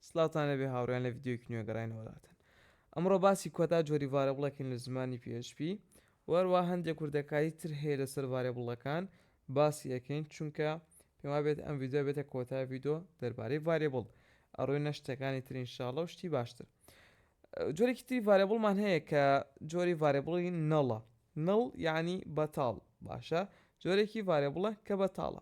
سڵاوتان لێبێ هاوڕێیان لە ڤیدیۆیەکی نوێ گەڕاینەوەلاتان ئەمڕۆ باسی کۆتا جۆری ڤارێبڵێکین لە زمانی php و هەروەها هەندێک وردەکاری تر هەیە لەسەر ڤارێبڵەکان باسی ئەکەین چونکە پێم وابێت ئەم ڤیدیۆ بێتە کۆتا ڤیدۆ دەربارەی ڤارێبڵ ئەڕۆینە شتەکانی تر ان شاء الله و شتی باشتر جۆرێکی تری ڤارێبڵمان هەیە کە جۆری ڤارێبڵی نەڵە نڵ یعنی بەتاڵ باشە جۆرێکی ڤارێبڵە کە بەتاڵە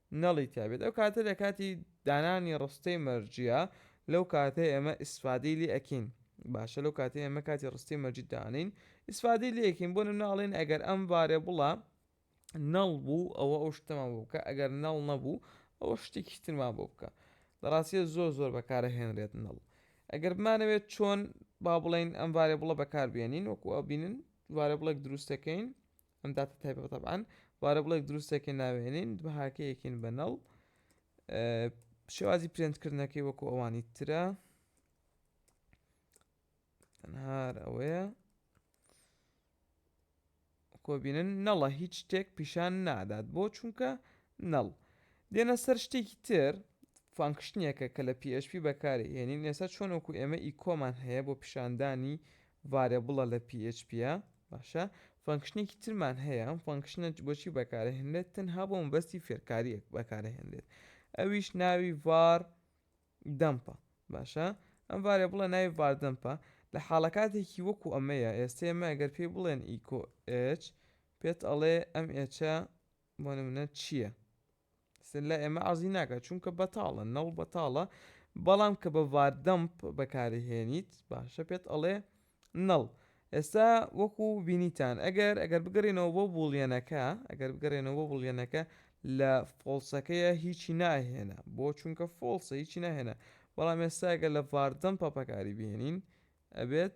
نڵی تیابێت ئەو کاتە لە کاتی دانانی ڕستەی مەرجیە لەو کاتەی ئێمە ئیسفادەی لێ ئەکین باشە لەو کاتەی ئێمە کاتی ڕستەی مەرجی دانین ئیسفادەی لێ ئەکین بۆ نمونە ئەڵێن ئەگەر ئەم ڤارێبڵە نڵ بوو ئەوە ئەو شتەمان بۆ بکە ئەگەر نڵ نەبوو ئەوە شتێکی ترمان بۆ بکە لە ڕاستیە زۆر زۆر بەکارە هێنرێت نڵ ئەگەر بمانەوێت چۆن با بڵێین ئەم ڤارێبڵە بەکار بێنین وەکو ئەبینن ڤارێبڵێک دروستەکەین ئەم داتە تایبەتە تەبعەن ڤارێبڵێک دروستێکین ناوێنین بەهاکەیەکین بە نەڵ شێوازی پرێنتکردنەکەی وەکو ئەوانی ترە تەنهار ئەوەیە کۆبینن نەڵە هیچ شتێک پیشان نادات بۆ چونکە نەڵ دێنە سەر شتێکی تر فانکشتنیەکە کە لە PHP بەکاری هێنین ئێستا چۆن وەکو ئێمە ئی کۆمان هەیە بۆ پیشاندانی ڤارێبڵە لە پی ئێچ پیە باشە فەنکشنێکی ترمان هەیە ئەم فەنکشنە بۆچی بەکارەهێنرێت تەنها بۆ مەبەستی فێرکاریەک بەکارەهێنرێت ئەویش ناوی ڤار دەمپە باشە ئەم ڤارێ بڵە ناوی ڤاردەمپە لە حاڵەکاتێکی وەکو ئەمەیە ئێستا ئێمە ئەگەر پێی بڵێن ئیکۆ ئچ پێت ئەڵێ ئەم ئێچە بۆ منە چییە سن لای ئێمە عەزی ناکات چونکە بەتاڵە نەڵ بەتاڵە بەڵام کە بە ڤار دەمپ بەکارهێنیت باشە پێت ئەڵێ نەڵ ئێستا وەکو بینیتان ئەگەر ئەگەر بگەڕێنەوە بۆ بوڵیەنەکە ئەگەر بگەڕێنەوە بۆ بوڵیەنەکە لە فۆڵسەکەیە هیچی ناهێنا بۆ چونکە فۆڵسە هیچی ناهێنا بەڵام ئێستا ئەگەر لە ڤار دەمپە بەکاری بهێنین ئەبێت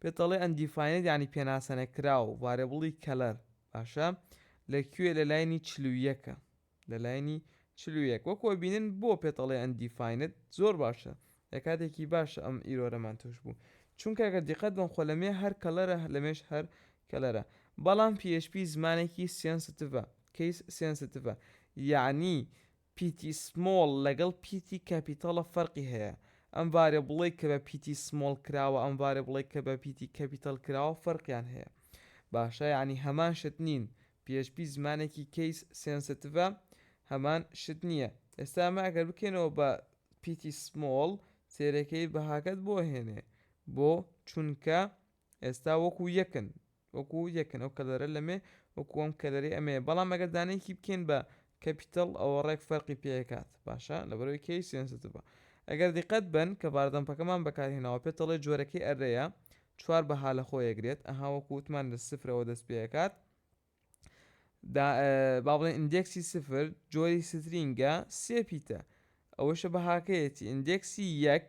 پێت ئەڵێ ئەندیفاینێت یانی پێناسە نەکراو ڤارێبڵی کەلەر باشە لە کوێ لە لاینی چل و یەکە لە لاینی چل و یەک وەکو ئەبینن بۆ پێت ئەڵێ ئەندیفاینێت زۆر باشە لە کاتێکی باشە ئەم ئیرۆرەمان توش بوو چونکە گەر دیقەت بەم خۆ لەمێ هەر کەلەرە لەمێش هەر کەلەرە بەڵام پی ئێچ پی زمانێکی سێنسیتڤە کەیس سێنسیتڤە یانی پیتی سمۆڵ لەگەڵ پیتی کەپیتەڵە فەرقی هەیە ئەم ڤارێبڵەی کە بە پیتی سمۆڵ کراوە ئەم ڤارێبڵەی کە بە پیتی کەپیتەڵ کراوە فەرقیان هەیە باشە یانی هەمان شت نین php زمانێکی کەیس سێنسێتڤە هەمان شت نییە ئێستا ئەمە ئەگەر بکەینەوە بە پیتی سمۆڵ سێرەکەی بەهاکەت بۆ ئەهێنێ بۆ چونکە ئێستا وەکو یەکن وەکو یەکن ئەو کەلەرە لەمێ وەکو ئەم کەلەرەی ئەمەیە بەڵام ئەگەر دانەیەکی بکەین بە کەپیتەڵ ئەوە ڕێک فەرقی پێکات باشە لەبەرەوەی کەی سێنسیتڤە ئەگەر دیقەت بەن کە باردەمپەکەمان بەکارهێناوە پێتەڵی جۆرەکەی ئەرەیە چوار بەها لە خۆ یەگرێت ئەها وەکو وتمان لە سفرەوە دەست پێکات با بڵێن ئیندێکسی سفر جۆری سترینگە سێ پیتە ئەوەشە بەهاکەیەتی ئیندێکسی یەک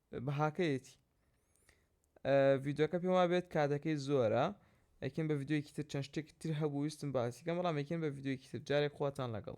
بەهاکەیەتی ڤیدۆکە پێم وابێت کاتەکەی زۆرە ئەکن بە ڤیددیوکی تر چەند شتێک تر هەبوو ویستم باسیکەم بەڵام ئەکن بە ڤیددیوکی تر جارێک خواتان لەگەڵ